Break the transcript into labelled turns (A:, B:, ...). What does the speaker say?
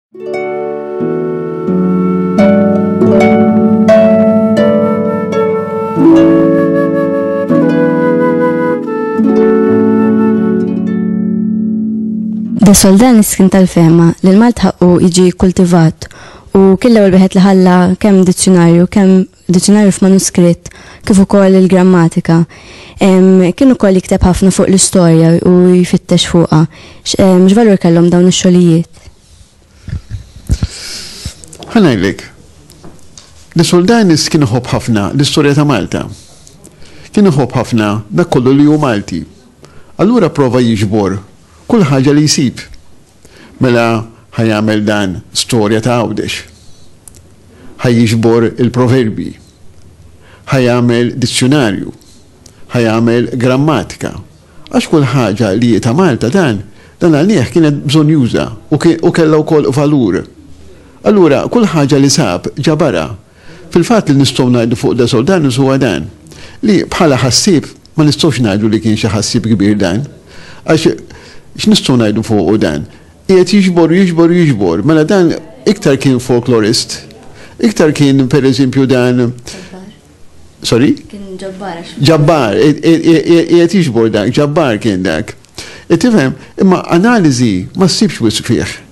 A: Da soldan iskin tal-fema li l-Malt ħaqqu jiġi kultivat u killa u l-biħet li ħalla kemm dizzjonarju, kemm diċinarju f'manuskritt kif ukoll il-grammatika. Kien ukoll jikteb ħafna fuq l-istorja u jfittex fuqha. X'valur kellhom dawn ix-xogħlijiet?
B: Ħanajlik, li Soldanis kien iħobb ħafna l-istorja ta' Malta. Kien iħobb ħafna dak kollu li hu Malti. Allura prova jiġbor kull ħaġa li jsib Mela ħa jagħmel dan storja ta' Għawdex. Ħa jiġbor il-proverbji. Ħa jagħmel dizzjunarju. Ħa jagħmel grammatika. Għax kull ħaġa li hi ta' Malta dan, dan għalih kienet bżonjuża u kellha wkoll valur. Allura kull ħaġa li sab ġabarha. Fil-fatt li nistgħu ngħidu fuq De Soudanus huwa dan, li bħala ħassieb ma nistgħux ngħidu li kien xi ħassieb kbir dan. Għax x'nistgħu ngħidu fuqu dan? Qiegħed jiġbor u jiġbor u jiġbor. Mela dan iktar kien folklorist, iktar kien pereżempju dan Sorry? Kien ġabbar. Ġabbar, qiegħed jiġbor dak, ġabbar kien dak. Tifhem, imma analiżi ma ssibx wisq fih.